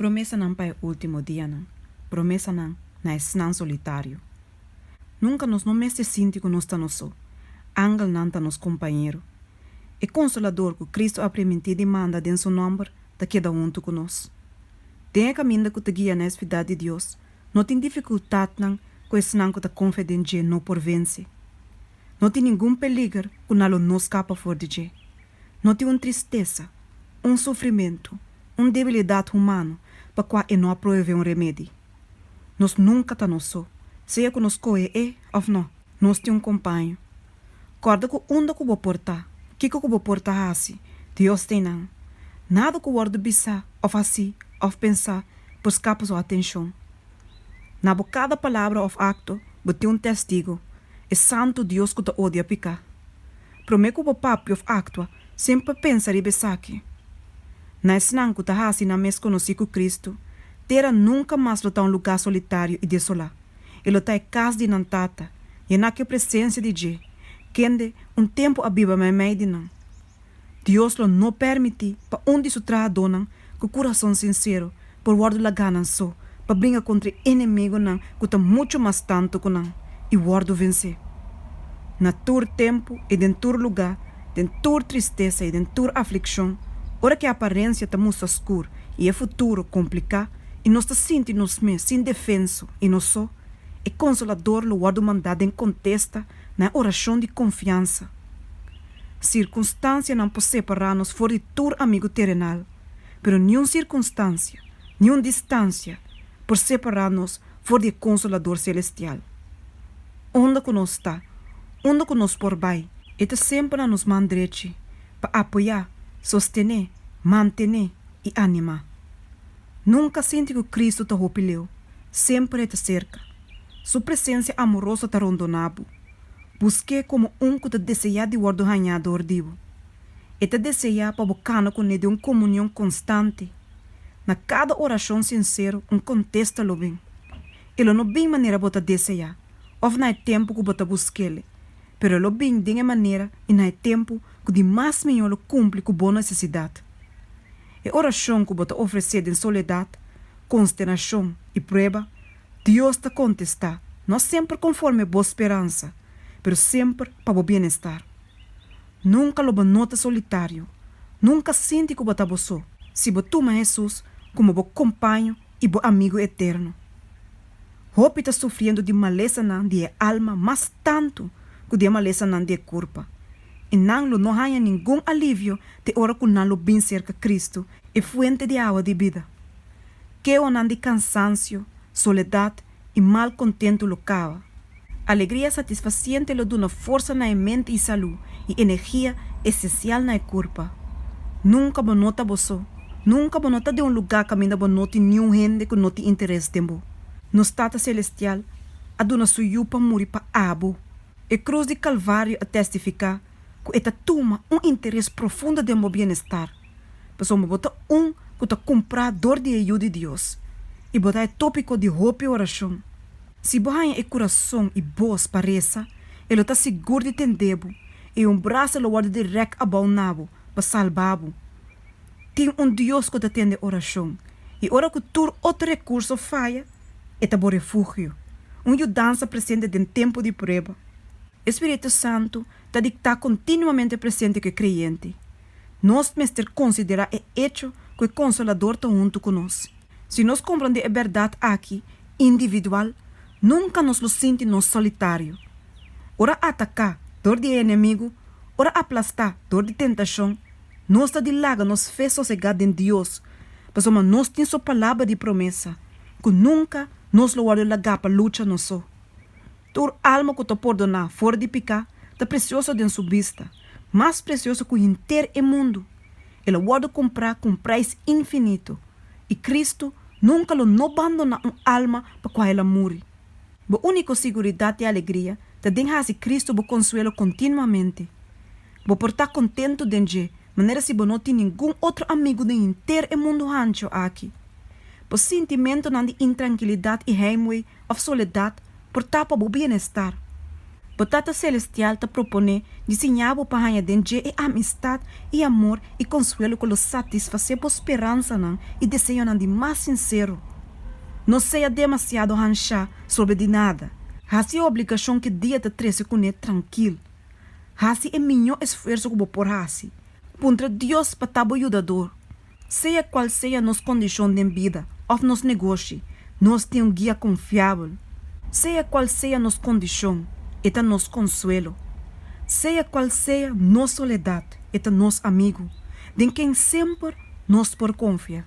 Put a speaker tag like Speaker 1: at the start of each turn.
Speaker 1: Promesanan pa e último dianan, promesanan na esnan solitario. Nunka nos no mester sinti ku nos ta nos so. Angelnan ta nos kompañero. E Konsolador ku Kristu a primintí di manda den Su nòmber ta keda huntu ku nos. Den e kaminda ku ta guia na e Spidat di Dios, no tin difikultatnan ku esnan ku ta konfia den dje no por vense. No tin ningun peliger ku na lo no skapa for di dje. No tin un tristesa, un sufrimentu, un debilidat humano pa kua e no a proevé un remedi. Nos nunka ta nos so, sea ku nos kohe E òf no. Nos tin un kompaño. Kòrda ku unda ku bo por ta, kiko ku bo por ta hasi, Dios ta einan. Nada ku wòrdu bisá òf hasí òf pensá por skapa Su atenshon. Na bo kada palabra òf akto bo tin un Tèstigo, e Santu Dios ku ta odia piká. Promé ku bo papia òf aktua, semper pensa riba esaki, Na esnan ku ta hasi nan mes konosí ku Kristu, tera nunka mas lo ta un lugá solitario i desolá. E lo ta e kas di nan Tata, i e na ke presensia di Dje, kende un tempu a biba meimei di nan. Dios lo no pèrmití pa un di su trahadónan ku kurason sinsero por wòrdu lagá nan so pa bringa kontra e enemegonan ku ta muchu mas tantu ku nan i wòrdu vensé. Na tur tempu i den tur lugá, den tur tristesa i den tur aflikshon, ora ku e aparensia ta mustra skur i e futuro kompliká i nos ta sinti nos mes indefenso i no so, e Konsolador lo wòrdu mandá den kontesta na e orashon di konfiansa. Sirkunstansianan por separá nos for di tur amigu terenal, pero niun sirkunstansia, niun distansia por separá nos for di e Konsolador selestial. Unda ku nos ta, unda ku nos por bai, e ta semper na nos man drechi pa apoyá, sostené, mantené i animá. Nunka sinti ku Kristu ta hopi leu, semper e ta serka. Su presensia amoroso ta rondona bo. Busk'é komo un ku ta deseá di wòrdu hañá dor di bo. E ta deseá pa bo kana kuné den un komunion konstante. Na kada orashon sinsero un kontesta lo bin. E lo no bin manera bo ta deseá, òf na e tempu ku bo ta busk'el, pero e lo bin den e manera i na e tempu ku di mas mihó lo kumpli ku bo nesesidat. E orashon ku bo ta ofresé den soledat, konsternashon i prueba, Dios ta kontestá, no semper konforme bo speransa, pero semper pa bo bienestar. Nunka lo bo no ta solitario. Nunka sinti ku bo ta bo so, si bo tuma Hesus komo bo kompaño i bo amigu eterno. Hopi ta sufriendo di malesanan di e alma mas tantu ku di e malesanan di e kurpa, i nan lo no haña ningun alivio te ora ku nan lo bin serka Kristu, e Fuente di Awa di Bida. Ke onan di kansansio, soledat i mal kontentu lo kaba. Alegria satisfasiente lo duna forsa na e mente i salú i energia esensial na e kurpa. Nunka bo no ta bo so. Nunka bo no ta den un lugá kaminda bo no tin niun hende ku no tin interes den bo. Nos Tata Selestial a duna su Yu pa muri pa abo. E krus di Kalvario a tèstifiká ku e ta tuma un interes profundo den bo bienestar. pasobra bo ta un ku ta kumprá dor di e Yu di Dios i bo ta e tópiko di hopi orashon. Si bo haña e kurason i bos pa resa, e lo ta sigur di tendé bo i un brasa lo wòrdu dirèk abou na bo pa salba bo. Tin un Dios ku ta tende orashon i ora ku tur otro rekurso faya, e ta bo refugio, un yudansa presente den tempu di prueba. E spiritu santu ta di ta kontinuamente presente ku e kreyente. Nos mester konsiderá e echo ku e Konsolador ta huntu ku nos. Si nos komprondé e bèrdat aki individual, nunka nos lo sinti nos solitario. Ora ataká dor di e enemigu, ora aplastá dor di tentashon, nos ta di laga nos fe sosegá den Dios, pasobra nos tin Su Palabra di promesa, ku nunka nos lo wòrdu lagá pa lucha nos so. Tur alma ku ta pordoná for di piká ta presioso den su bista, mas presioso ku henter e mundu. El a wòrdu kumprá ku un prais infinito, i Kristu nunka lo no bandoná un alma pa kua el a muri. Bo úniko siguridat i alegria ta den hasi Kristu bo konsuelo kontinuamente. Bo por ta kontentu den dje manera si bo no tin ningun otro amigu den henter e mundu hancho aki. Bo sintimentunan di intrankilidat i heimwee òf soledat por tapa bo bienestar. Bo Tata Selestial ta proponé di siña bo pa haña den dje e amistat i amor i konsuelo ku lo satisfasé bo speransanan i deseonan di mas sinsero. No sea demasiado hanshá sobre di nada. Hasi e obligashon ku e dia ta trese kuné trankil. Hasi e miñó esfuerso ku bo por hasi. Puntra Dios pa ta bo yudador. Sea cual sea nos condicion den bida of nos negoshi, nos tin un guia confiabel. Sea cual sea nos condicion, e ta nos consuelo. Sea cual sea nos soledad, e ta nos amigo, den ken semper nos por confia.